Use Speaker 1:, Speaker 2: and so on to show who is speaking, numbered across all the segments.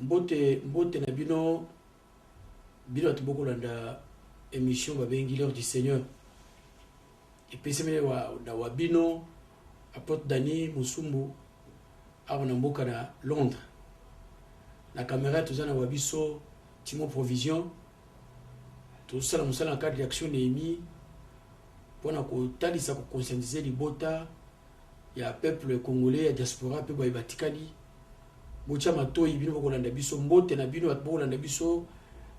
Speaker 1: Mbote mbote na bino bino bato bokolanda émission babengi l'heure du seigneur epesami na wa bino apotre dani mosumbu awa na mboka na londres na camera toza na wa biso timo provision tosala mosala na cadre ya action neemi mpo na kotalisa kokonscientise libota ya peuple congolais ya diaspora pe baye batikali botia matoyi bino bokolanda biso mbote na bino bato bokolanda biso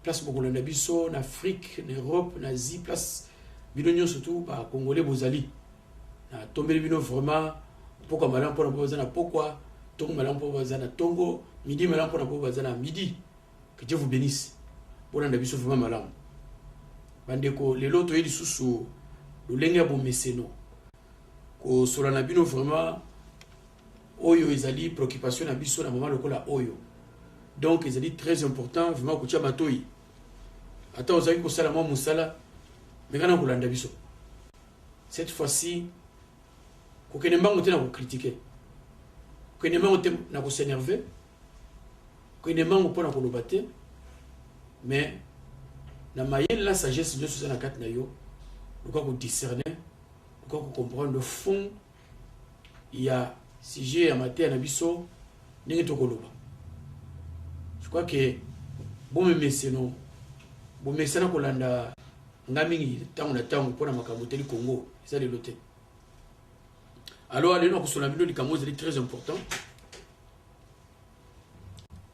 Speaker 1: place bokolanda biso na afrique na europe na asie place bino nyonso tu bacongolais bozali natombeli bino vraiment mpokwa malamu mpona mpo baza na mpokwa ntongo malamu mpo baza na ntongo midi malamu mpona mpo baza na midi que dieu vous bénisse bolanda biso vraiment malamu bandeko lelo toye lisusu lolenge ya bomeseno kosola na bino vraiment oyo ezali préoccupation na biso na moment lokola oyo donc ezali très important vraiment kotia matoi ata ozalaki kosala mwa mosala mekana kolanda biso cette fois-ci kokende mbango te na kokritike kokende mbango te na kosenerve kokende mbango mpo na koloba te mais na mayele na sagesse nyonso eza na kati na yo luka kodiscerne okoki ko comprendre fond ya sujet ya mateya na biso ndenge tokoloba je crois ke bomemeseno bomesana kolanda nga mingi ntango na ntango mpo na makambo etali congo eza lelo te alors lelo na kosola bino likambo ezali très important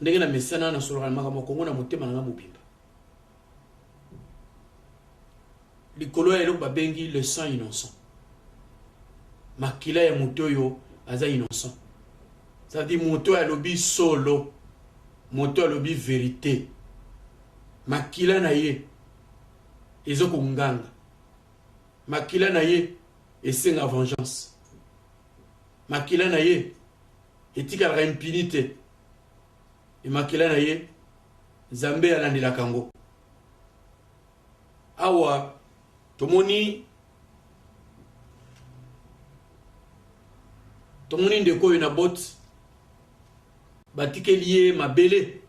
Speaker 1: ndenge na mesana na solaka na makambo ya kongo na motema na ngai mobimba likolo ya eloko babengi le sang innocent makila ya moto oyo aza innocent cetadi moto oyo alobi solo moto oyo alobi verite makila na ye ezo konganga makila na ye esenga vengeance makila na ye etikalaka impini te e makila na ye nzambe alandelaka yango awa tomoni tomoni ndeko oyo na boti batikeli ye mabele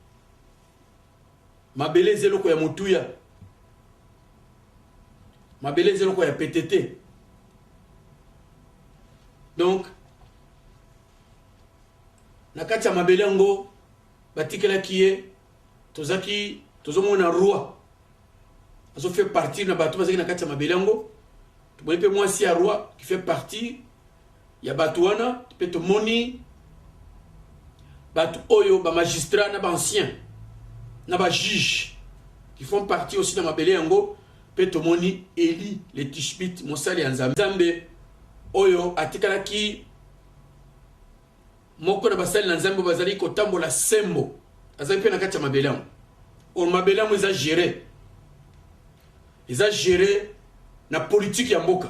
Speaker 1: Mabele eza eloko ya motuya. Mabele eza eloko ya pete te. Donc, na kati ya mabele yango batikelaki ye tozaki tozomona roi azo fait partie na bato bazalaki na kati ya mabele yango tomoni mpe mwasi ya roi qui fait partie ya bato wana mpe tomoni bato oyo bamagistrat na baancien na bajuge qui font partie aussi na mabele yango mpe tomoni eli le tishbit mosali ya nzambe nzambe oyo atikalaki moko na basali na nzambe bazali kotambola sembo azali mpe na kati ya mabele yango or mabele yango eza gere eza gere na politike ya mboka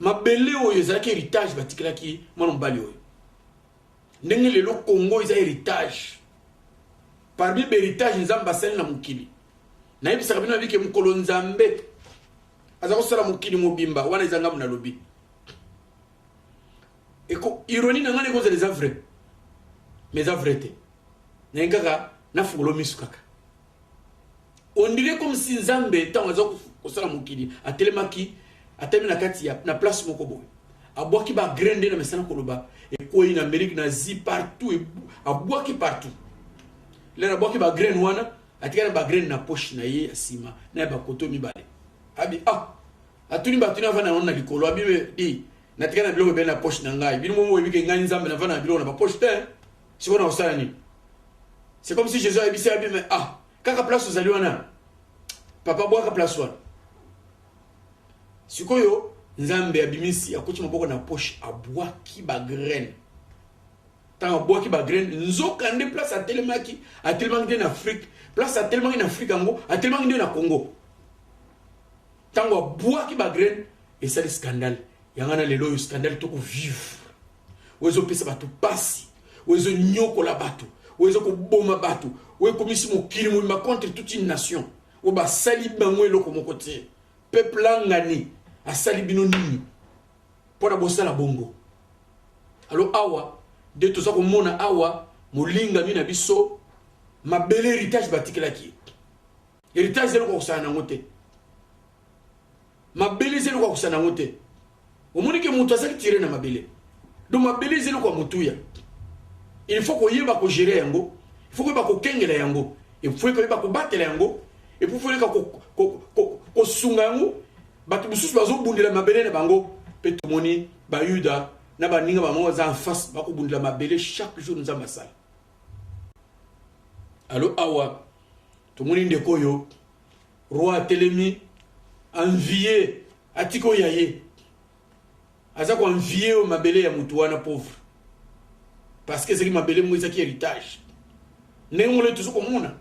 Speaker 1: mabele oyo ezalaki heritage batikelaki mwana mobali oyo ndenge lelo congo eza heritage parmi baheritage nzambe asali na mokili nayebisaka bino nabike mokolo nzambe aza kosala mokili mobimba wana eza ngambo nalobi ironie na ngai ekozala eza vrai mais eza vrai te naye kaka nafungolo misu kaka on dirait comme si nzambe ntango aza kosala mokili atelemaki atelemi na kati ya na place moko boye abwaki bagraine nde na mesana koloba ekwei na amerike na asie partout abwaki partout lelo abwaki bagraine wana atikali na bagraine na poche na ye ya nsima na ya bakoto mibale abi ah atuni batuni avanda yango na likolo abi di natikali na biloko ebele na poche na ngai bino momo oyebike ngai nzambe navanda na biloko na bapoche te sikoyo na kosala nini c'est comme si jesus ayebisi ya bime ah kaka place ozali wana papa bwaka place wana sikoyo nzambe abimisi akoti maboko na poche abwaki bagraine ntango abwaki bagraine nzoka nde place atelemaki atelemaki nde na afrike place atelemaki na afrike yango atelemaki nde na congo ntango abwaki bagraine esali scandale yanga na lelo oyo scandale tokovivre oyo ezopesa bato mpasi oyo ezonyokola bato oyo ezokoboma bato oyo ekomisi mokili mobima contre toute une nation oyo basali bango eloko moko te peuple angani asali bino nini mpo na bosala bongo alo awa nde toza komona awa molingami na biso mabele heritage batikelaki ye heritage eza eloko akosana nango te mabele eza eloko akosana nango te omoni ke moto azaki tire na mabele donc mabele eza eloko ya motuya il faut koyeba kogere yango il faut koyeba kokengela yango il faut koyeba kobatela yango epuis foyeka kosunga yango bato mosusu bazobundela mabele na bango mpe tomoni bayuda na baninga bango baza en face bakobundela mabele chaque jour nzambe asala alo awa tomoni ndeko oyo roi atelemi envie atika oyo ya ye aza koenvie oyo mabele ya motu wana pauvre parce que ezalaki mabele moko ezalaki héritage ndenge moko tozo komona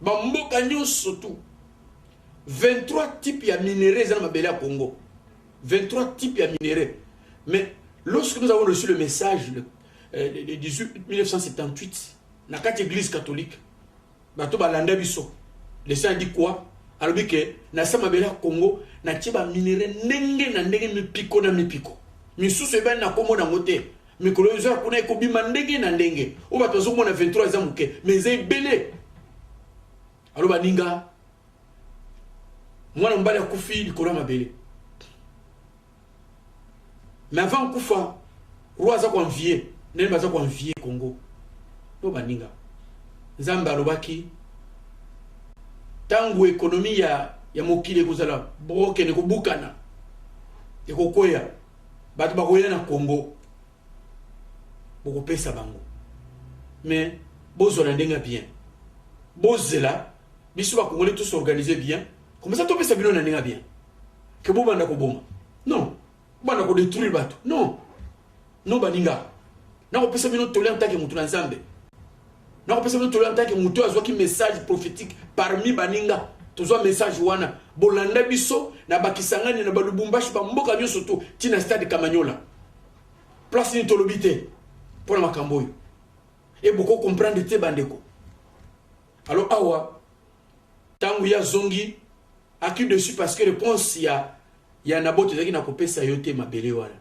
Speaker 1: bamboka nyonso tu 23 type ya minerai eza na mabele ya congo 23 type ya minerai mais lorsque nous avons reçu le message le, euh, le 18 1978 na kati église catholique bato balanda biso lesin adi kua alobi ke na se mabele ya congo natie baminere ndenge na ndenge mipiko na mipiko misusu ebani na nkombo nango te mikolo oyo ezoya kuna ekobima ndenge na ndenge oyo bato bazomona 23 eza moke ma eza ebele alo baninga mwana mobali akufi likolo ya mabele mais avant kufa roi aza koenvie nani baza koenvie congo no baninga nzambe alobaki ntango ekonomi ya, ya mokili ekozala broken ekobukana ekokweya bato bakoya na congo bokopesa bango mais bozwa na ndenge ya bien bozela biso bakongole tous organise bien comme ça topesa bino na ndenge ya bien ke bobanda koboma non banda kodétruire bato non no baninga nakopesa bino toli antake motu na nzambe nakopesa bino toli antake motu oyo azwaki message prophétique parmi baninga tozwa message wana bolanda biso na bakisangani na balubumbashi bamboka nyonso to ntina stade kamanyola place nini tolobi te mpo na makambo oyo e boko comprendre te bandeko Alors awa tango ya zongi aki dessus parce que réponse ya ya Nabote ezalaki na kopesa yo te mabele wana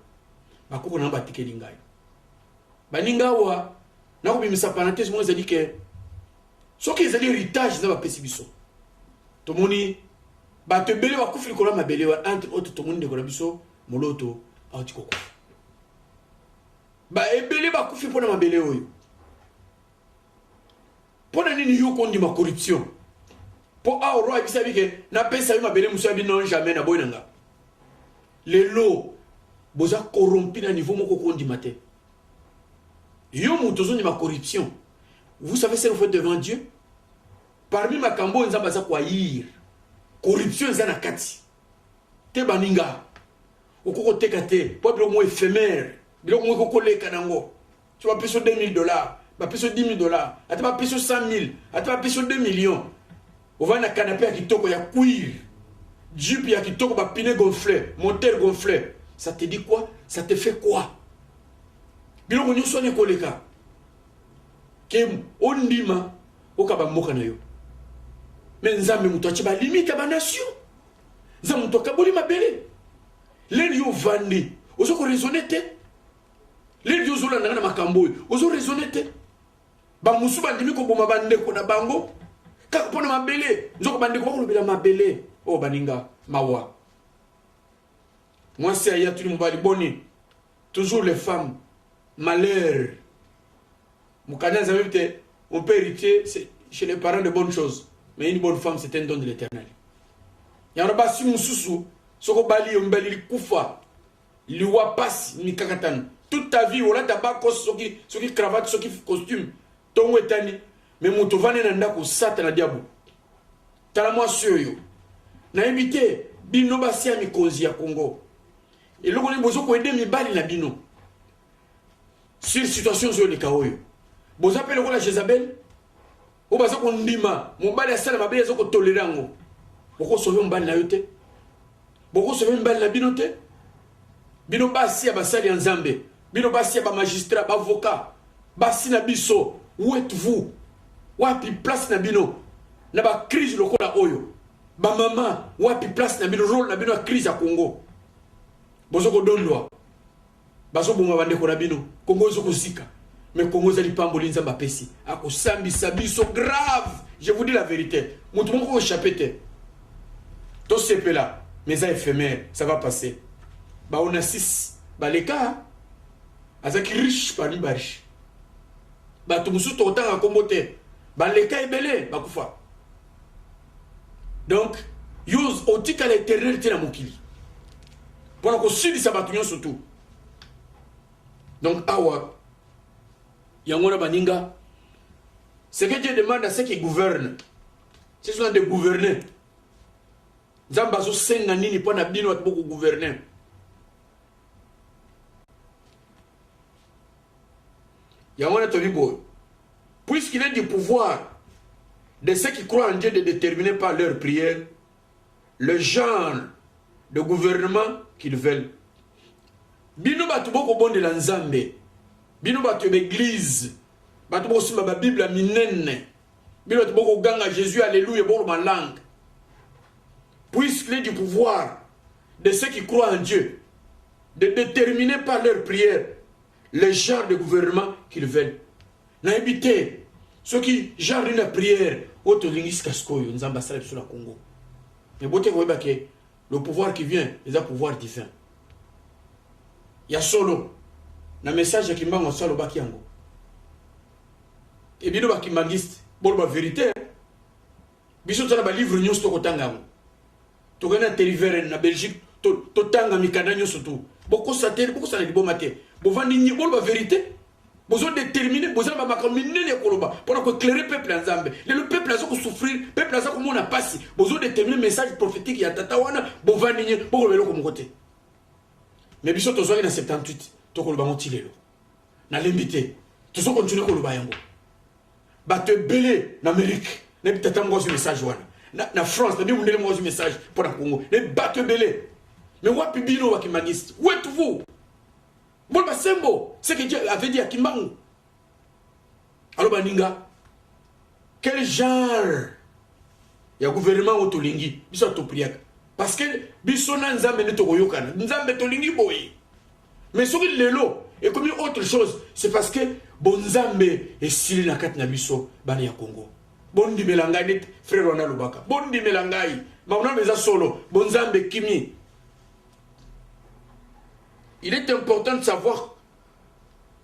Speaker 1: bakoko na batikeli ngai baninga awa nakobimisa parenthèse moko ezali ke soki ezali héritage na bapesi biso tomoni bato ebele bakufi likolo ya mabele wana entre autres tomoni ndeko na biso moloto auti kokufa baebele bakufi mpo na mabele oyo mpo na nini yo kondima corruption mpo awa roi ayebisabi ke napesa yo mabele mosusu yabi non jamais naboyi na nga lelo boza corrompi na niveau moko kondima te yo moto ozondima corruption vous savez ce que vous faites devant dieu parmi makambo oyo nzambe aza koayir corruption eza na kati te baninga okoki koteka te mpo biloko moko efemere biloko moko ekoleka nango so bapesi yo 2000 dollars bapesi yo 10000 dollars ata bapesi yo 100000 ata bapesi yo 2 millions ovandi na kanape ya kitoko ya cuir jupe ya kitoko bapine gonfle moteur gonfle ça te dit quoi ça te fait quoi biloko nyonso wana ekoleka ke ondima okaba mboka na yo me nzambe moto atye balimite ya banation nzambe moto akaboli mabele leli yo ovandi oza koraisonne te Lady ozolanda nga na makambo oyo ozo raisonne te bamosusu bandimi koboma bandeko na bango kaka mpo na mabele nzoko bandeko bakolobela mabele oyo oh, baninga mawa mwasi aya tuni mobali boni toujours les femmes malheur mokanda nzambe te on peut hériter chez les parents de bonnes choses mais une bonne femme c'est un don de l'éternel yango basi mosusu soki obali yo mbeli likufa liwa pasi mikakatano toute ta vie olata bakos soki soki cravate soki costume ntongo etani me moto ovandi na ndako satana diabo tala mwasi oyo nayebi te bino basi ya mikonzi ya congo eloko nini bozo koede mibali na bino sur situation ozoyoleka oyo boza mpe lokola jezabel oyo baza kondima mobali asala mabe aza kotolera yango bokosove mobali na yo te bokosove mibali na bino te bino basi ya basali ya nzambe bino basi ya bamagistrat baavocat basi na biso wet vous wapi place na bino na bacrise lokola oyo bamama wapi place na bino role na bino ya crise ya congo bozo kodondwa Bazoboma bandeko na bino, Congo ezo kozika. Mais Congo eza lipamboli Nzambe apesi, akosambisa biso grave. Je vous dis la verite, moto moko ko échapper te. Tosepela, mais eza éphémère, ça va passer. Ba Onassis baleka azaki riche parmi ba riche. Bato mosusu tokotanga nkombo te, baleka ebele bakufa. donc yo otikala eternel te na mokili mpo na kosilisa bato nyonso tu donc awa yango wana baninga ce que dieu demande à ce qui gouverne ce sont des gouverneurs nzambe azosenga nini mpo na bino bato bokogouverne yango wana toni boye puisqu'il est du pouvoir de ceux qui croient en Dieu de déterminer par leur prière le genre de gouvernement qu'ils veulent bino bato bokobondela nzambe bino bato ya baeglize bato bokosimba babible ya minene bino bato bokoganga jésus alleluya boloba langue puisqu'il est du pouvoir de ceux qui croient en dieu de determiner par leur prière le genre de gouvernement qu'ils veulent nayebi te soki genre nini ya prière oyo tolingi sika sikoyo nzambe asala biso na congo me bote koyeba ke le pouvoir qui vient eza pouvoir divin ya solo na message ya kimbangu aso alobaki yango ebino bakimbangiste boloba verité biso toza na balivre nyonso tokotanga yango tokei na teliveren na belgique totanga to mikanda nyonso tu bokosa te bokosala liboma te bovandi nyi boloba verité bozo détermine boza na bamakambo minene ya koloba mpona koeclaire peuple ya nzambe lelo peuple aza kosouffrir peuple aza komona mpasi bozo détermine message prophétique ya tata wana bovandi nye bokoloba eloko moko te mais biso tozwaki na 78 tokoloba yango ti lelo nalembi te tozo continue koloba yango bato ebele na amerike nayebi tata moko azwi message wana na, na france nabi mundele moko azwi message mpo na congo nayebi bato ebele me wapi bino bakimbaniste wetu vous mbona basembo seke dieu avait dit akimbangu alo baninga quel genre ya gouvernement oyo tolingi biso atopriaka parce que biso na nzambe nde tokoyokana nzambe tolingi boye mais soki lelo ekomi autre chose c'est parce que bonzambe esili na kati na biso bana ya congo bondimela ngai nde frere wana alobaka bondimela ngai mamonano eza solo bonzambe ekimi il est important de savoir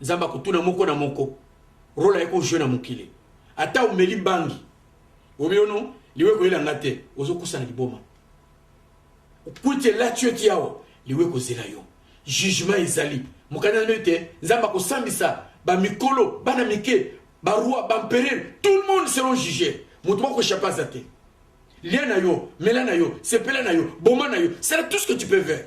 Speaker 1: Nzambe akotuna moko na moko role aye ko jouer na mokili. Ata omeli bangi obiono liwe koyela nga te ozokusa na liboma kwiti elati yo ti awa liwe kozela yo jugement ezali mokanda na ete nzambe akosambisa bamikolo bana mike baroi bamperere tout le monde seront juge moto bakochape aza te lia na yo mela na yo sepela na yo boma na yo sala tout ce que tu peux faire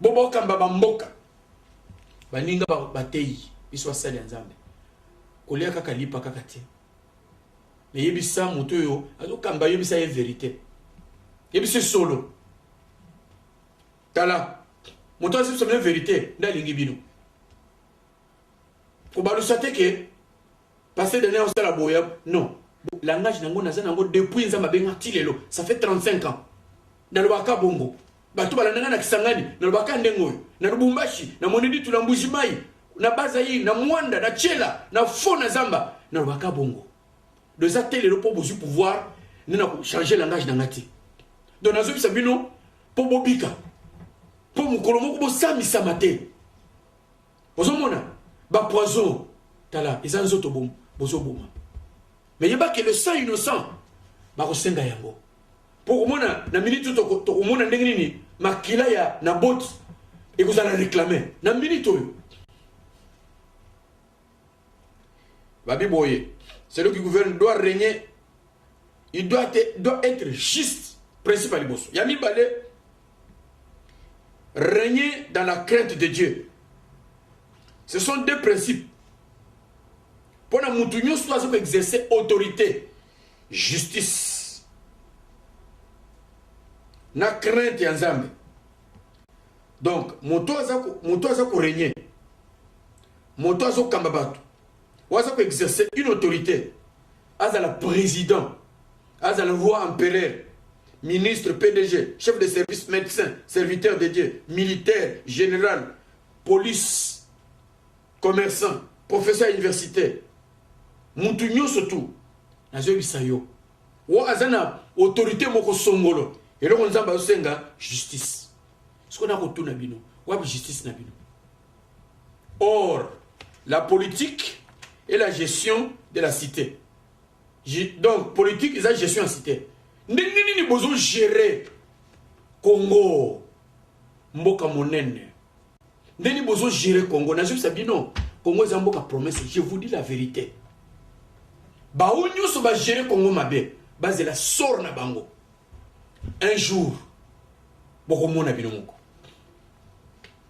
Speaker 1: Bo bokamba ba mboka. Baninga ba bateyi biso asali ya Nzambe. Kolia kaka lipa kaka te. Me yebisa moto oyo azokamba yebisa ye verite. Yebisa solo. Tala moto azo yebisa verite nde alingi bino. Kobalusa te ke Pasteur Daniel osala boya non langage nango naza nango depuis nzambe abenga ti lelo ça fait 35 ans nalobaka bongo bato balandanga na kisangani nalobaka ndenge oyo na lubumbashi na moneditu na mbujimai na bazaire na mwanda na chela na fo na zamba nalobaka bongo do eza te lelo mpo bozwi pouvoir nde na kochange langage na nga te donc nazobisa bino mpo bobika mpo mokolo moko bosambisama te Ozo mona ba poison tala eza nzoto bom bozo boma. Mais yeba que le sang innocent ba ko senga yango. Pour ko mona na minute to ko mona ndenge nini makila ya na bot et vous allez réclamer na minute oyo. Babi boye, celui qui gouverne doit régner il doit être, doit être juste principe ya liboso ya mibale régner dans la crainte de dieu ce sont deux principes mpo na motu nyonso aza koexerce autorité justice na crainte ya nzambe donc moto aza moto aza koregne moto azokamba bato oyo aza koexerce une autorité azala president azala roi empereur ministre pdg chef de service médecin serviteur de dieu militaire général police commerçant professeur universitaire mutu nyonso tu nazoyebisa yo wo aza na autorité moko songolo eloko nzambe azosenga justice sikoyo nakotuna bino wapi justice na bino Or, la politique est la gestion de la cité. Donc, politique eza gestion ya cité. Ndenge nini bozo gérer Congo mboka monene? Ndenge nini bozo gérer Congo? Nazobisa bino, Congo eza mboka promesse, je vous dis la vérité. Baoyo nyonso ba gérer Congo mabe, bazela sort na bango. Un jour, bokomona bino moko.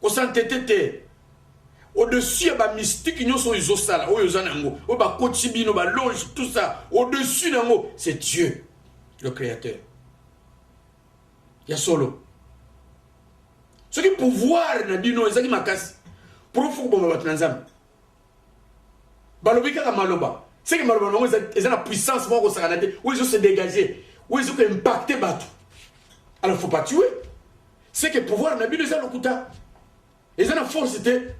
Speaker 1: Ko s'entêter te. Au-dessus ya ba mystique nyonso oyo ezosala, oyo oza nango, oyo bakotisi bino, ba loge, tout ça, au-dessus nango, c'est Dieu, le créateur. Ya solo. Soki pouvoir na bino ezaki makasi, pour faut koboma bato na Nzambe. balobi kaka maloba seke maloba nango eza na puissance moko kosakana te oyo ezo se dégager oyo ezo ko impacter bato alors faut pas tuer seke pouvoir na bino eza lokuta eza na force te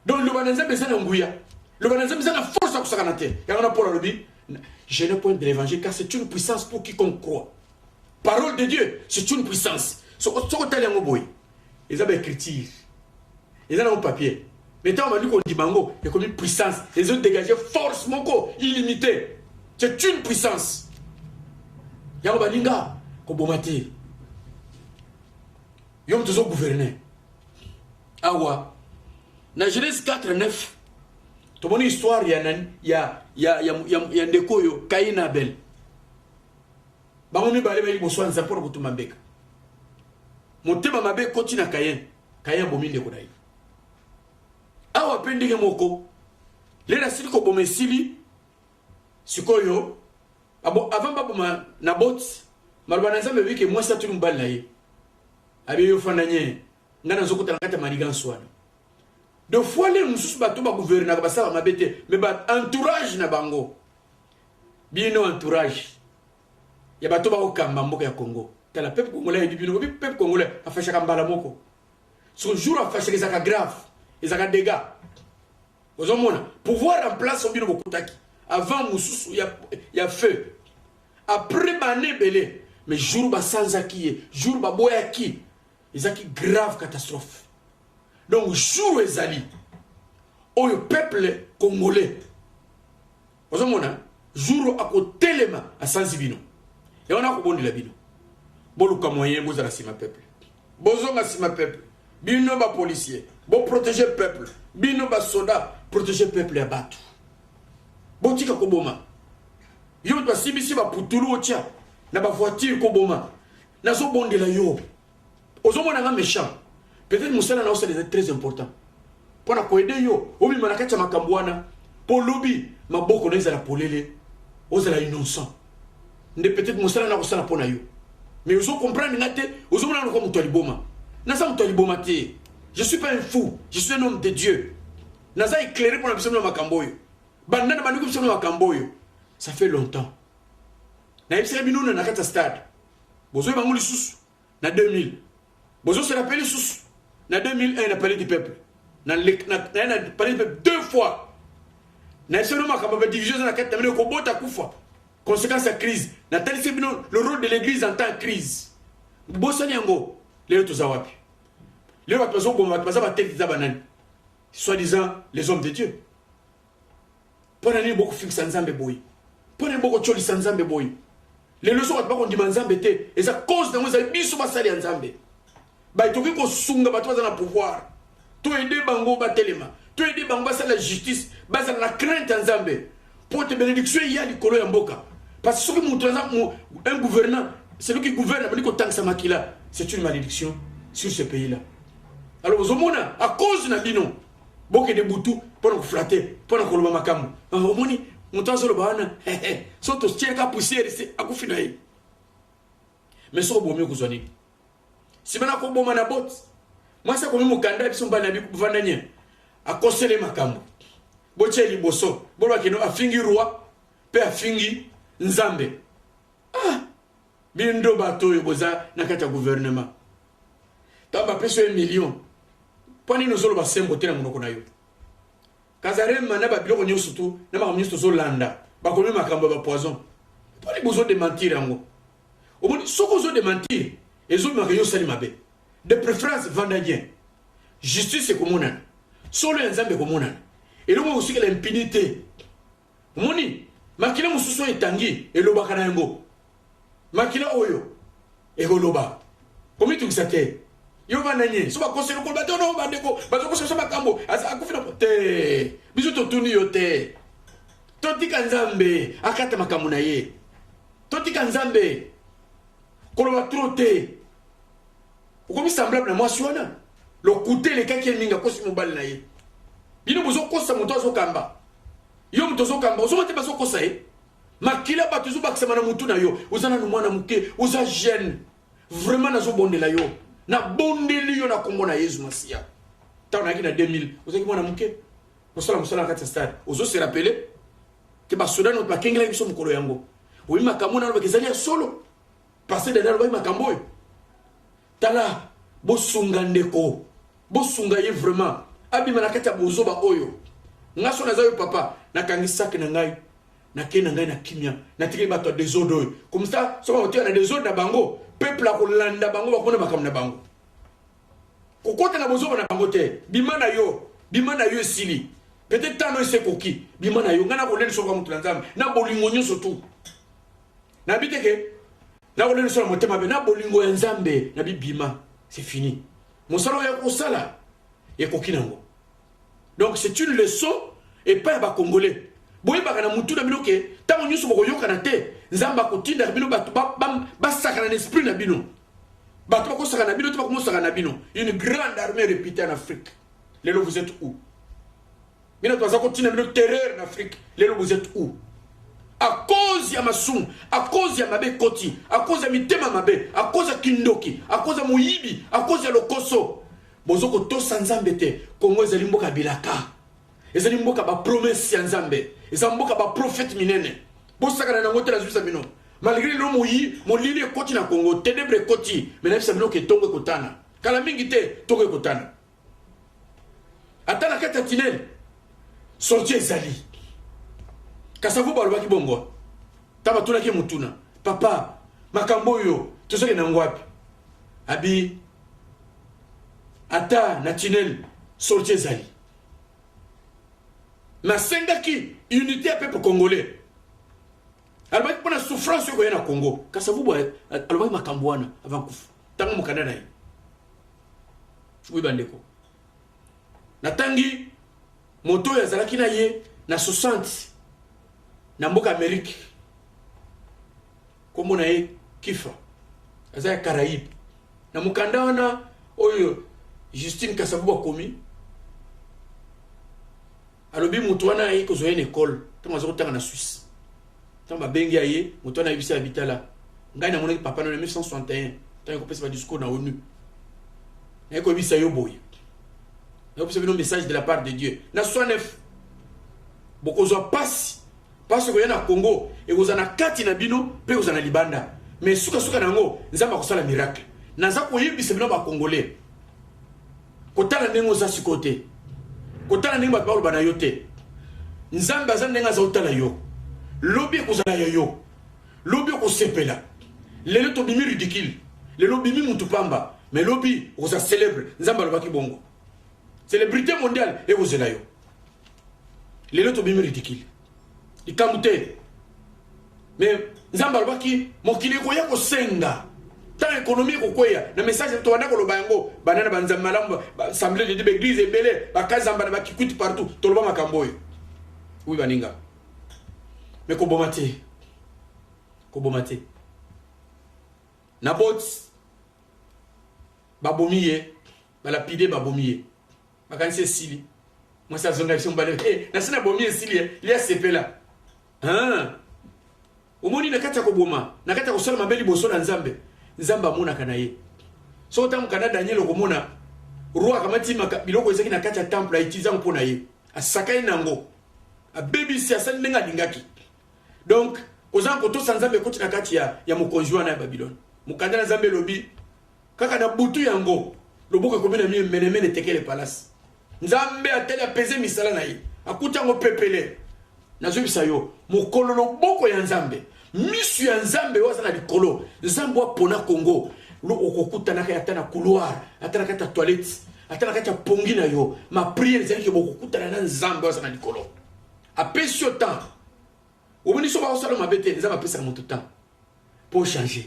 Speaker 1: donc loba na nzambe eza na nguya loba na nzambe eza na force ya kosakana te yango na paul alobi je ne point de l'évangile car c'est une puissance pour quiconque croit parole de dieu c'est une puissance soko otali yango boye eza ba écriture eza na papier mais ntango bandi kondima yango ekomi puissance ezo dégage force moko illimité c'est une puissance yango baninga koboma te yo moto ozo gouverne awa na genèse 4 9 tomoni histoire ya, ya, ya, ya, ya, ya ndeko oyo kain na abel bango mibale bayi liboso ya nzambe mpo na kotuma mbeka Motema mabe ekoti na Kayen. Kayen abomi ndeko na ye. Awa mpe ndenge moko, lelo asili koboma esili sikoyo abo avant baboma na boti maloba na nzambe ebiki mwasi atuli mobali na ye abe yo fanda nye ngai nazokota na kati ya manigansi wana de fois lelo mosusu bato baguvernaka basalaka mabe te me ba entourage na bango bino entourage ya bato bako kamba mboka ya Congo tala peuple congolais ayebi bino bobi peuple congolais afashaka mbala moko son jour afashaka ezaka grave ezaka dégâts ozomona pouvoir en place obino bokutaki avant mosusu ya, ya feu après bane ebele mais jour basanzaki ye jour baboyaki ezaki grave catastrophe donc jour ezali oyo peuple congolais ozo mona jour akotelema asanzi bino ya wana akobondela bino boluka moyen bozala nsima peuple bozonga nsima peuple bino bapolicier boprotege peuple bino basoda protege peuple ya bato botika koboma yo moto asimbisi baputulu otya na bavoitire koboma nazobondela yo ozo mona nga méchant peut-être musala na osala eza très important pona ko aider yo obima na kati ya makambo wana po lobi maboko na ezala polele ozala innocent nde peut-être musala na kosala pona yo mais ozo comprendre nga te ozo mona lokola moto ya liboma naza moto ya liboma te je suis pas un fou je suis un homme de dieu naza éclairé pona biso na makambo oyo banda na bandeko biso na makambo oyo ça fait longtemps nayebisaka bino na na kati ya stade bozoi bango lisusu na 2000 bozo se rappele lisusu na 2001 na palais du peuple na palais du peuple deux fois na eseno makambo ba division eza na kati na bino ekobota kufa conséquence ya crise natalisi bino le rôle de l'église en temps crise bosani yango lelo toza wapi lelo bato bazoboma bato baza bateki eza banani soi disant les hommes de dieu mpo na nini bokofingisa nzambe boye mpo na nini bokotyolisa nzambe boye lelo so bato bakondima nzambe te eza cause nango ezali biso basali ya nzambe baye tokoki kosunga bato baza na pouvoir toyede bango batelema toyede bango basala justice bazala na crainte ya nzambe mpo te benediction eya likolo ya mboka parce que soki moto aza un gouvernant celui qui gouverne abandi kotangisa makila c'est une malédiction sur ce pays là alors ozomona à cause na bino bokende butu mpo na koflate mpo na koloba makambo ah, omoni moto azoloba wana so totieleka pusiere se akufi na ye me soko bomi okozwa nini nsima na koboma na bote mwasi akomi mokanda ya biso mbali na bivanda nie akosele makambo botye liboso bolobakeno afingi roi mpe afingi nzambe ah! Bindo bato oyo boza na kati ya guvernema ntango bapesi yo million mpo nini ozoloba sembo te na monoko na yo kazarema na babiloko nyonso tu na makambo nyonso tozolanda bakomi makambo ya bapoison mpo nini bozodementire yango omoni soki ozodementire ezobimaka yo osali mabe de préférence vanda bien justice ekomonana solo ya nzambe ekomonana eloko ekosikela impini te Omoni, makila mosusu oyo etangi elobaka na yango. Makila oyo ekoloba, komitungisa te. Yo vanda nye, so bakosi eloko bato no bandeko bazokosa biso makambo akufi na te. Biso totuni yo te. Totika Nzambe akata makambo na ye. Totika Nzambe koloba trop te. okomi semblable na mwasi wana lokuta elekaki ye mingi akosi mobali na ye bino bozokosa moto azokamba yo moto ozokamba ozoma te bazokosa ye makila bato ezobakisama na motu na yo oza nanu mwana moke oza jeune vraiment nazobondela yo nabondeli yo na nkombo na yezu masiya ntango nayaki na 2000 ozalaki mwana moke osala mosala na kati ya stade ozose rapele te basoda no bakengelaki biso mokolo yango oyi makambo nalobaka ezali ya solo Pasteur Daniel alobaki makambo oyo. Tala bosunga ndeko. Bosunga ye vraiment. Abima na kati ya bozoba oyo. Nga so naza yo papa, nakangi sac na ngai. Nake na ngai na kimia. Natikeli bato ya desordre oyo. Comme ça, soki bakotia na desordre na bango, peuple akolanda bango bakona makambo na bango. Kokota na bozoba na bango te. Bima na yo. Bima na yo esili. Peut-être tano esekoki. Bima na yo. Nga nakoleli soka moto na Nzambe. Na bolingo nyonso tout. Na biteke na ko lendisa motema be na bolingo ya Nzambe na bibima c'est fini. Mosala ya kosala ekoki nango. Donc c'est une leçon et pas ba congolais. boyebaka na mutu na bino ke ntango nyonso bokoyokana te nzambe akotindaka bino bato basakana na esprit na bino bato bakosaka na bino te bakomosaka na bino une grande armée réputée en afrique lelo vous êtes où bino toza kotina bino terreur na afrique lelo vous êtes où à cause ya masumu à cause ya mabe ekoti à cause ya mitema mabe à cause ya kindoki à cause ya moyibi à cause ya lokoso bozo kotosa nzambe te kongo ezali mboka ya bilaka ezali mboka bapromese ya nzambe eza mboka baprofete minene bosakana nango te nazwisa bino malgré lelo moyi molili ekoti na kongo tenebre ekoti me nayebisa bino ke ntongo ekotana kala mingi te ntongo ekotana ata na kati ya tinel sortie ezali kasavu balobaki bongo ta batunaki motuna papa makambo oyo tozokende nango wapi abi ata na tinel sortie ezali nasengaki unité ya pepe congolais alobaki mpo na souffrance oyo ekoya na congo kasavubu alobaki makambo wana avant kufa ntango mokanda na ye oui bandeko natangi moto oyo azalaki na ye na 60 na mboka amerike nkombo na ye kifa aza ya caraïbe na mokanda wana oyo justine kasavubu akomi alobi moto wana aye kozwa ye na ekole ntango aza kotanga na swisse ntango babengi ya ye moto wana ayebisi ya bitala ngai namonaki papa na 1961 ntango ekopesa badiscours na onu naye koyebisa yo boye nakopesa bino message de la part de dieu na 69 bokozwa mpasi mpasi ekoya na congo ekozala na kati na bino mpe ekozala na libanda mais sukasuka na yango nzambe akosala miracle naza koyebisa bino bacongolais kotala ndenge oza sikoyo te kotala ndenge bato baloba na yo te nzambe aza ndenge aza otala yo lobi ekozala ya yo lobi okosepela lelo tobimi ridicule lelo obimi mutu pamba mais lobi okoza célèbre nzambe alobaki bongo célébrité mondiale ekozela yo lelo tobimi ridicule likambo te me nzambe alobaki mokili ekoya kosenga ntango ekonomi ekokweya na message tobanda koloba yango banda na banzambe malamu assemble de baeglise ebele bakazamba na bakikwiti partout toloba makambo oyo wi baninga me koboma te koboma te naboti babomi ye balapide babomi ye Makanisi esili. Mwasi azonga biso mbale. Eh, hey, nasi na bomi esili eh. Lia sepela. Hein? Omoni na kati ya koboma, na kati ya kosala mabe liboso na Nzambe. Nzambe amonaka na ye. So otango kana Daniel okomona roi akamati maka biloko ezaki na kati ya temple aitiza mpo na ye. Asakai nango. Abebisi asali ndenge alingaki. Donc, kozanga kotosa Nzambe ekoti na kati ya ya mokonzi wana ya Babilone. Mokanda na Nzambe elobi kaka na butu yango loboko ekomi na mie menemene tekele palasi nzambe atali apeze misala na ye akuti yango pepele nazwibisa yo mokolo loboko ya nzambe misu ya nzambe oyo aza na likolo nzambe apona kongo okokutanaka ata na couloir ata na kati ya toilette ata na kati ya pongi na yo mapriere ezali ke bokokutana na nzambe oyo aza na likolo apesi yo temps omoni so bakosala mabe te nzambe apesaka moto temps po changer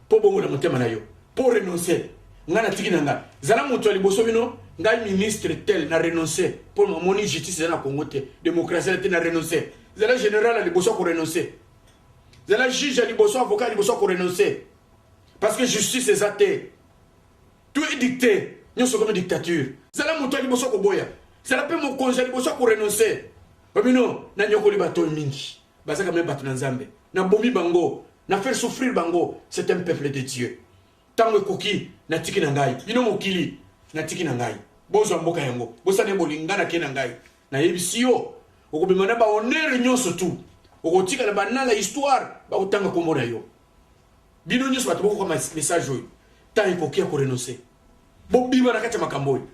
Speaker 1: po bongola motema na yo po renoncer nga na tiki na nga zala moto ya liboso bino ngai ministre tel na renoncer po mamoni justice eza na congo te demokrasi eza te na renoncer zala general ya liboso ya korenoncer zala juge ya liboso avocat ya liboso ya korenoncer parce que justice eza te tout est dicté nyonso ekomi dictature zala moto ya liboso koboya zala mpe mokonzi ya liboso ya korenoncer obino nanyokoli bato mingi baza kame bato na nzambe nabomi bango na faire souffrir bango c'est un peuple de dieu ntango ekoki natiki na ngai bino mokili natiki na ngai bozwa mboka yango bosana bolinga nake na ngai nayebisi yo okobema na bahonneur nyonso tu okotikala banala histoire bakotanga nkombo na yo bino nyonso bato bokoka message oyo ntango ekoki ya korenonce bobima na kati ya makambo oyo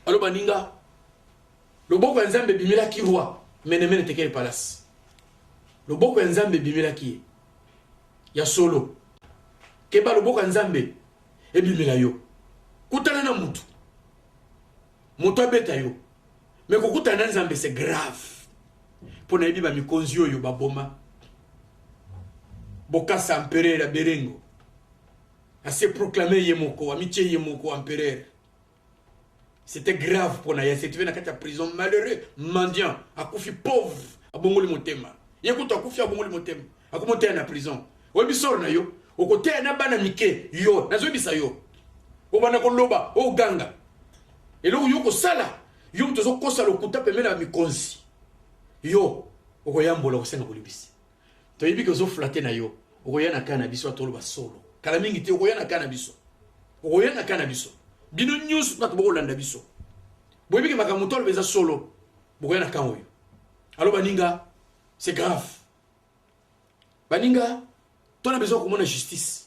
Speaker 1: alo baninga Loboko ya Nzambe ebimelaki roi Menemene Tekele Palasi. Loboko ya Nzambe ebimelaki ye. Ya solo. Keba loboko ya Nzambe ebimela yo. Kutana na mutu. Moto abeta yo. Me kokutana na Nzambe c'est grave. Mpo nayebi ba mikonzi oyo baboma. Bokasa empereur ya Berengo. Ase proclamer ye moko, amitie ye moko empereur. C'était grave pona ya Setive na kati ya prison malheureux mendiant akufi pauvre abongoli motema ye kutu akufi abongoli motema akomoteya na prison oyebi solo na yo okoteya na bana mike yo nazoyebisa yo obanda koloba oganga eloko yo kosala yo moto ozokosa lokuta pembeni ya mikonzi yo okoyambola okosenga bolibisi toyebi ke ozo flatte na yo okoya na kaa na biso atoloba solo kala mingi te okoya na kaa na biso okoya na kaa na biso bino nyonso bato bokolanda biso boyebi ke makambo toloba eza solo bokoya na kaa oyo alo baninga c'est grave baninga tona besoin komona justice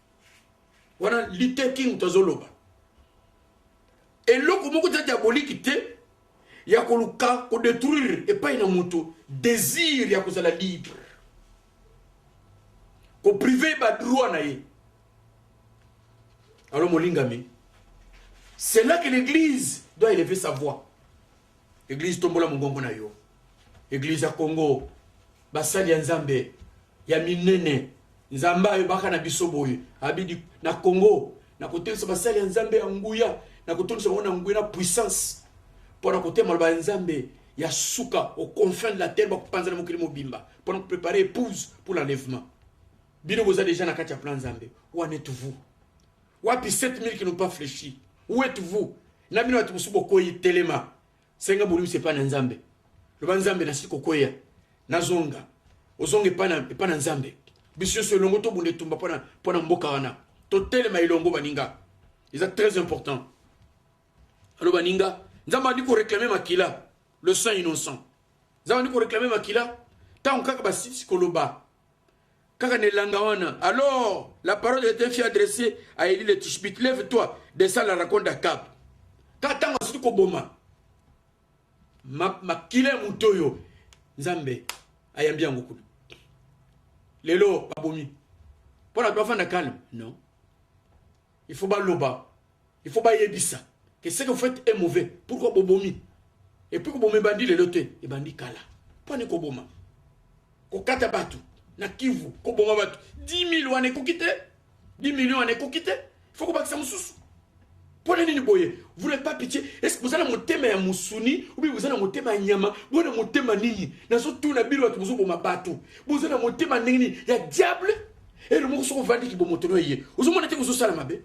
Speaker 1: wana lite king tozoloba eloko moko eza diaboliki te ya koluka kodetruire epai na moto désir ya kozala libre koprive badroit na ye alo molingami c'est là que l'église doit élever sa voix église tombola mongongo na yo église ya congo basali ya nzambe ya minene nzambe ayebaka na biso boye abidi na congo na kotelisa basali ya nzambe ya nguya na kotondisa bango na nguya na puissance mpo na koteya maloba ya nzambe ya suka au confin de la terre bakopanzana mokili mobimba mpo na koprepare épouse pour l'enlèvement bino boza déjà na kati ya plan nzambe wana etu vous wapi 7000 qui n'ont pas fléchi où êtes vous na bino bato mosusu bokoyi telema Senga bolimbisi epai na Nzambe. Loba Nzambe, nasili kokweya, nazonga. Ozonga epai na, epai na Nzambe. Biso nyonso elongo tobunda etumba mpo na, mpo na mboka wana. Totelema elongo baninga. Eza très important. Alors baninga, Nzambe andi ko réclamer makila, le sang innocent. Nzambe andi ko réclamer makila, ntango kaka basisi koloba kaka na elanga wana alors la parole est un fille adressée à Elie le tishbit lève toi descend la raconte à cap ka ntango asuki koboma makila ya moto oyo nzambe ayambi yango kuna lelo babomi mpo na bafanda calme non il faut baloba il faut bayebisa que ce que vous faites est mauvais pourquoi bobomi et puis koboma ebandi lelo te ebandi kala mpani koboma kokata bato na kivu koboma bato 10 000 wana ekoki te 10 million wana ekoki te il faut kobakisa mosusu mpo na nini boye vous n'avez pas pitié est-ce que boza na motema ya mosuni obi boza na motema ya nyama boza na motema nini nazotuna bino bato bozoboma bato boza na motema ndenge nini ya diable elo moko soki ovandi kibomotono eye ozomona te kozosala mabe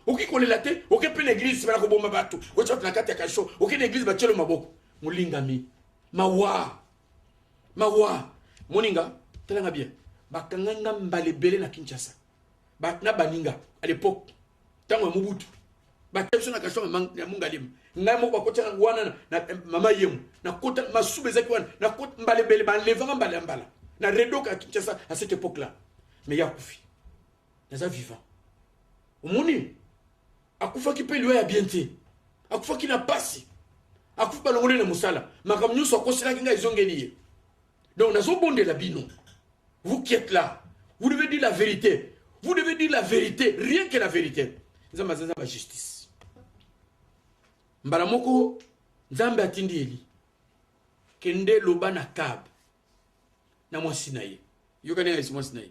Speaker 1: okoki kolela te oke mpe na eglize nsima na koboma bato otya bato na kati ya kasho oke na eglize batyelo maboko molingami mawa mawa moninga talanga bien bakanga nga mbala ebele na kinshasa ba, na baninga à l'époque ntango ya mobutu batya biso na kasho ya mongalima ngai moko bakotya wana na eh, mama yemo nakota masuba ezaki wana nakota mbala ebele balevanga mbala ya mbala na redoka ya kinshasa à cette époque là mais yakufi naza vivant omoni akufaki mpe liwa ya bien te akufaki na pasi akufi balongoli na mosala makambo nyonso akoselaki ngai ezongeli ye donc nazobondela bino vous qui êtes là vous devez dire la vérité vous devez dire la vérité rien que la vérité nzambe aza nzambe ya justice mbala moko nzambe atindi eli kende loba na kabe na mwasi na ye yokani ngai mwasi na ye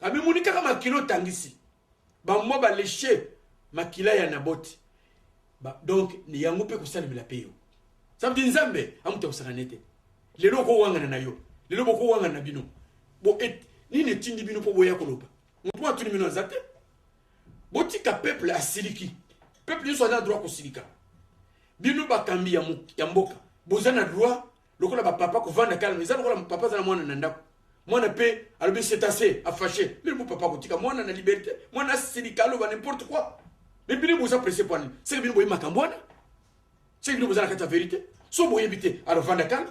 Speaker 1: amimoni kaka makila otangisi bamwa baleshe makila ya naboti ba, donc yango mpe kosalemela mpe yo sabdi nzambe amuta kosangana ete lelo okowangana na yo lelo bokowangana na bino bo et, nini etindi bino mpo boya koloba moto mwa atuni bino aza te botika peuple asiliki peuple nyonso aza na droit kosilika bino bakambi ya, ya mboka boza na droit lokola ba papa ko vanda calme eza lokola papa za mwana na ndako mwana pe alobi c'est assez a fâché mais mon papa kotika mwana na liberté mwana silika aloba n'importe quoi mais bino boza presse pwani c'est que bino boye makambo wana c'est que bino boza na kati ya vérité so boyebi te alors vanda calme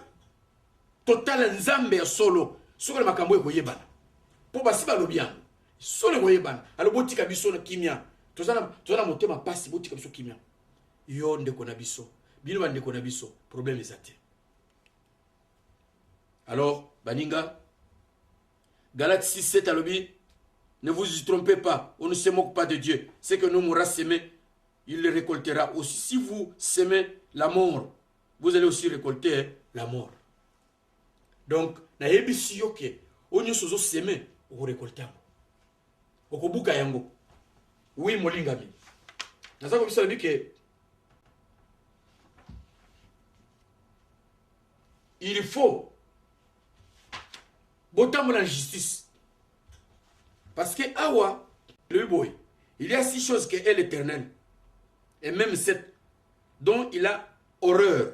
Speaker 1: totala nzambe ya solo soki na makambo ekoyebana mpo basi balobi yango solo ekoyebana alo botika biso na kimia toza na motema mpasi botika biso kimia Yo ndeko na biso bino ba ndeko na biso problème eza te alors baninga Galate 6 7 alobi ne vous y trompez pas on ne se moque pas de Dieu ce que nous aura semé il le récoltera aussi si vous semez la mort vous allez aussi récolter la mort donc nayebisi yo ke oyo nyonso ozoseme okorekolte yango okobuka yango wi molingami naza kobisa lobi ke il faut botambola na justice parce que awa lobi boye il y a six choses que est l'éternel et même cette dont il a horreur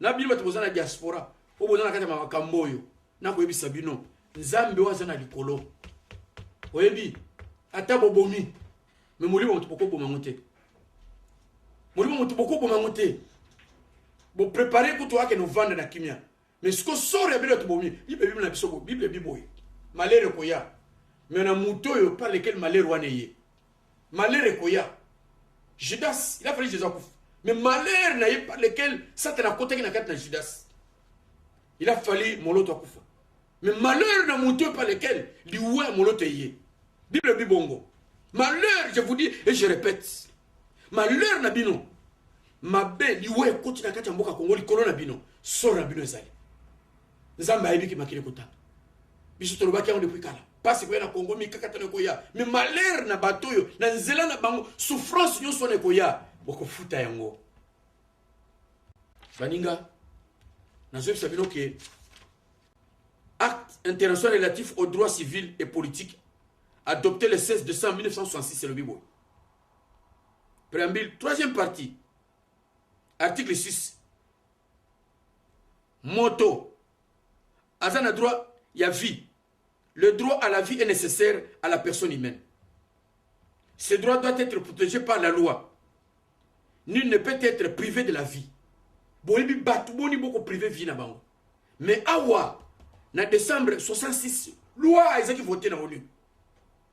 Speaker 1: na bino bato boza na diaspora oyo boza na kati ya makambo oyo nakoyebisa bino nzambe oyo aza na likolo oyebi ata bobomi me molimo moto bokoboma yango te molimo moto bokoboma yango te boprepare kutu akende ovanda na kimia me siko sore ya bino tobomi bible bible na biso bible biboye malere ekoya me na moto oyo par lequel malere wana eye malheur ekoya judas il a fallu jesus akufa mais malheur na ye par lequel satana akotaki na kati na judas il a fallu moloto akufa mais malheur na moto oyo par lequel liwa ya moloto eye bible ebi bongo malheur je vous dis et je répète malheur na bino mabe liwa ekoti na kati ya mboka kongo likolo na bino solo na bino ezali nzambe ayebi ke makili kotanga biso tolobaki yango depuis kala mpasi ekoya na kongo mikakatano ekoya me malere na bato oyo na nzela na bango souffrance nyonso wana ekoya bokofuta yango baninga nazoyebisa bino ke acte international relatif au droit civil et politique adopté le 16 décembre 1966 elobi boye préambule troisième partie article 6 Moto aza na droit ya vie. Le droit à la vie est nécessaire à la personne humaine. Ce droit doit être protégé par la loi. Nul ne peut être privé de la vie. Boyebi batu boni boko privé vie na bango. Mais awa na décembre 66 loi ezaki voter na ONU.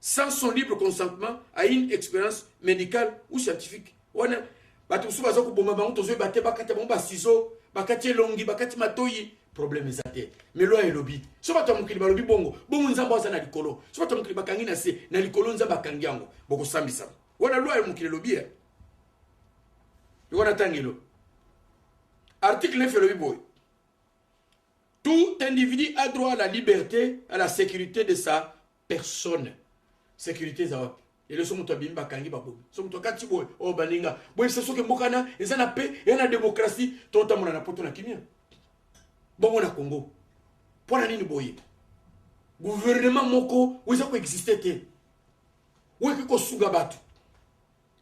Speaker 1: sans son libre consentement à une expérience médicale ou scientifique wana bato mosusu baza koboma bango tozoyeba te bakata bango basizo bakati elongi bakati matoyi problème eza te mais loi elobi so bato ya mokili balobi bongo bongo nzambe aza na likolo so bato ya mokili bakangi na se na likolo nzambe akangi yango bokosambisama wana loi ya mokili elobi e wana ntangelo article 9 elobi boye Tout individu a droit à la liberte, à la sécurité de sa personne. Sécurité eza wapi? lelo so moto abimi bakangi babomi so moto akati boye oyo oh, baninga boyebisa soki mboka wana eza na pe ya na demokrasi totambola na poto na kimia bongo na congo mpo na nini boye guvernema moko oyo eza koexiste te oyo ekoki kosunga bato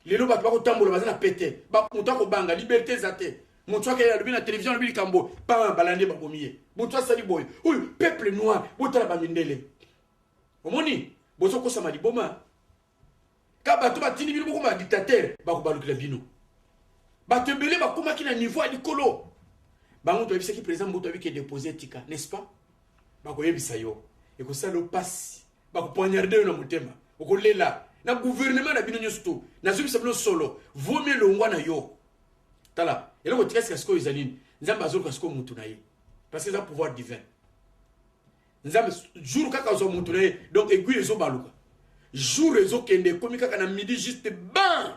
Speaker 1: lelo bato bakotambola baza na pete moto akobanga liberte eza te moto akei alobi na televizio alobi likambo boye paa balandi babomi ye moto asali boye oyo peuple noir botala bamindele omoni bozokosama liboma ka bato batindi bino bokoma badictatere bakobalukela bino bato ebele bakomaki na niveau ya likolo bango toyebisaki président mbuto abike depose etika n'est ce pas bakoyebisa yo ekosala yo mpasi bako poignarde yo na motema okolela na gouvernement na bino nyonso to nazobisa bino solo vomi elongwa na yo tala eloko tika sika sikoyo eza nini nzambe azoluka sikoyo motu na ye parce que eza pouvoir divin nzambe jour kaka azwa motu na ye donc aiguille ezobaluka jour ezokende ekomi kaka na midi juste ban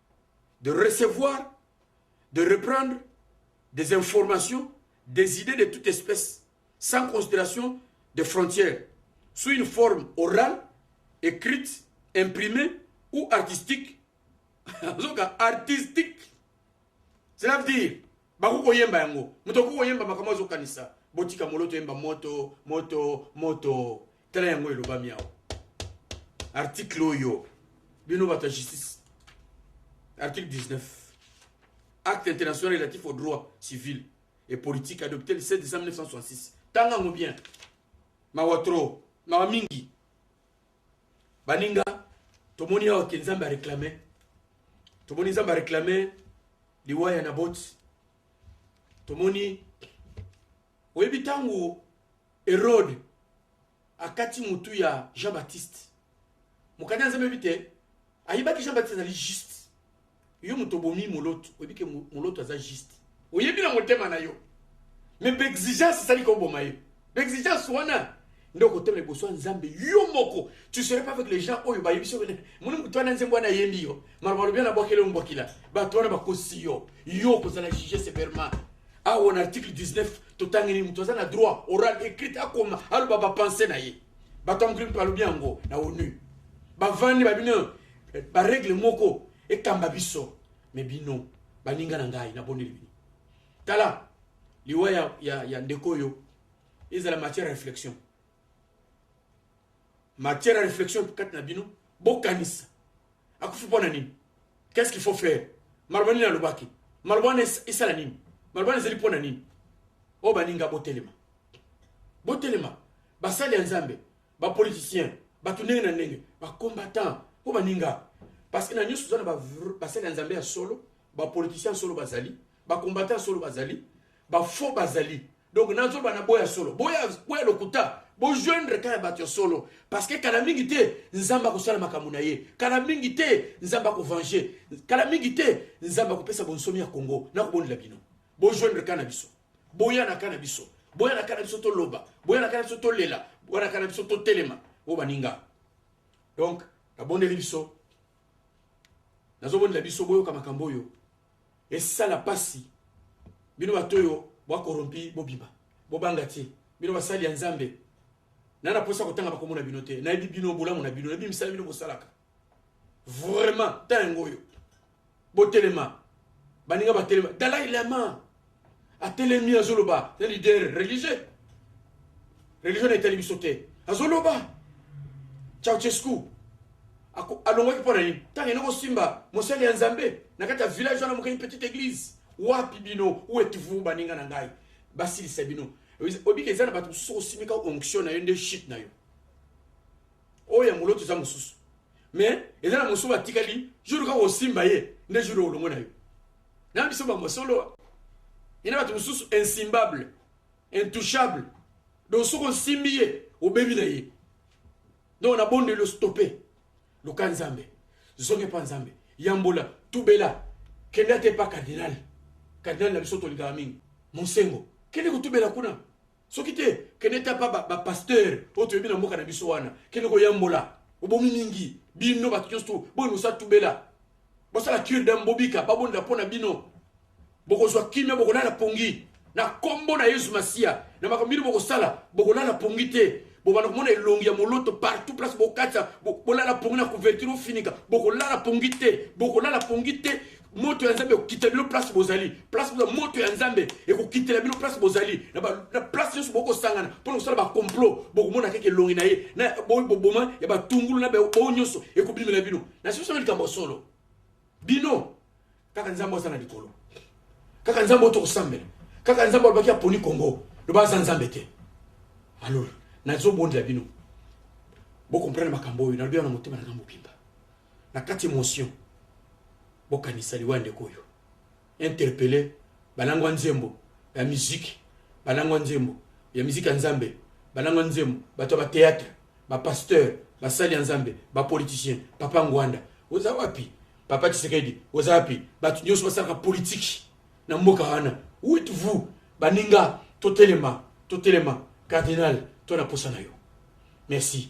Speaker 1: de recevoir, de reprendre des informations, des idées de toute espèce, sans considération de frontières, sous une forme orale, écrite, imprimée ou artistique. artistique. Cela veut dire, baku koyemba yango, mutoku koyemba makambo azokanisa, botika moloto yemba moto, moto, moto. tala yango elobami awa article oyo bino bato ya justice article 19 acte international relatif au droit civil et politique adopté le 7 décembre 1966 tanga yango bien mawa tro mawa mingi baninga tomoni awa ke nzambe areklame tomoni nzambe areklame liwa ya naboti tomoni oyebi ntango Erode akati mutu ya Jean Baptiste. Mokanda nzambe ebi te ayebaki Jean Baptiste azali juste. Yo moto obomi moloto, oyebi ke moloto aza juste. Oyebi na motema na yo. Mais b'exigence esali koboma yo. B'exigence wana nde okotema liboso ya nzambe yo moko tu serais pas avec les gens oyo bayebi soki nini moni moto wana nzembo wana ayembi yo maloba lobi wana abwakeli yo mbwakila bato wana bakosi yo yo okozala juge severement awa na article 19 totangeli moto aza na droit oral écrit akoma aloba bapense na ye bato ya mokili mpe balobi yango na onu bavandi babino eh, baregle moko ekamba biso me bino baninga na ngai nabondeli bino tala liwa ya, ya, ya ndeko oyo ezala matière ya réflexion matière ya réflexion kati na bino bokanisa akufi mpo na nini qu'est-ce qu'il faut faire maloba nini alobaki maloba wana esala nini maloba wana ezali mpo na nini oyo oh, baninga botelema botelema basali ya nzambe bapoliticien bato ndenge na ndenge bacombattant oyo oh, baninga parce que na nyonso oza na basali ya nzambe ya solo bapoliticien ya solo bazali ba ba combattant solo bazali ba faux bazali donc nazo bana boya solo boya boya lokuta bo joindre kaya bato ya solo parce que kala mingi te nzambe akosala makambo na ye kala mingi te nzambe akovange kala mingi te nzambe akopesa bonsomi ya congo nakobondela bino bo joindre kaya na biso boya na kaya na biso boya na kaya na biso toloba boya na kaya na biso tolela boya na kaya na biso totelema o baninga donc nabondeli biso nazobondela biso boyoka makambo oyo esala pasi bino bato oyo bwa corrompi bobima bobanga ti bino basali ya nzambe na na posa kotanga bakombo na bino te nayebi bino bolamu na bino nayebi misala bino bosalaka vraiment temps yango oyo botelema baninga batelema dalai lama atelemi azoloba na leader religieux religion na etali biso te azoloba ceausescu alongwaki mpo na nini ntango ene kosimba mosali ya nzambe na kati ya village wana moke une petite église wapi bino ou êtes-vous baninga na ngai basilisa bino obika eza na bato mosusu osimika onction na yo nde chute na yo oyo ya moloto eza mosusu mais eza na mosusu batikali jour kaka osimba ye nde jour olongo na yo na biso bamasolo ena bato mosusu insimbable intouchable donc soki osimbi ye obebi na ye donc nabondeli ostope luka nzambe zonge mpa nzambe yambola tubela kende ata epa cardinal cardinal na biso tolingaka mingi monsengo kende kotubela kuna soki te kende ta pa ba pasteur oyo toyebi na mboka na biso wana kende koyambola obomi mingi bino bato nyonso tu boye mosatubela bosala cure dame bobika babondela mpo na bino bokozwa kimia bokolala pongi na nkombo na yesu masiya na makambo bino bokosala bokolala pongi te bobanda komona elongi ya moloto partout place bokatisa bolala pongi na couverture ofinika bokolala pongi te bokolala pongi te moto ya nzambe ekokitela bino place bozali place boza moto ya nzambe ekokitela bino place bozali na place nyonso bokosangana mpona kosala bacomplot bokomona keke elongi na ye na boboma ya batungulu na bao nyonso ekobimela bino na siso na likambo ya solo bino kaka nzambe aza na likolo kaka nzambe oyo tokosambela kaka nzambe alobaki aponi kongo loba aza nzambe te alors nazobondela bino bokomprendre makambo oyo nalobi wana motema na ngambo bimba Na kati emotion bokanisa liwa ya ndeko oyo interpelle balangwa nzembo ya musique balangwa nzembo ya musique ya nzambe balangwa nzembo bato ya ba theatre ba pasteur basali ya nzambe ba politicien papa ngwanda oza wapi papa tshisekedi oza wapi bato nyonso basalaka politiki na mboka wana wit vous baninga totelema totelema cardinal to na posa na yo merci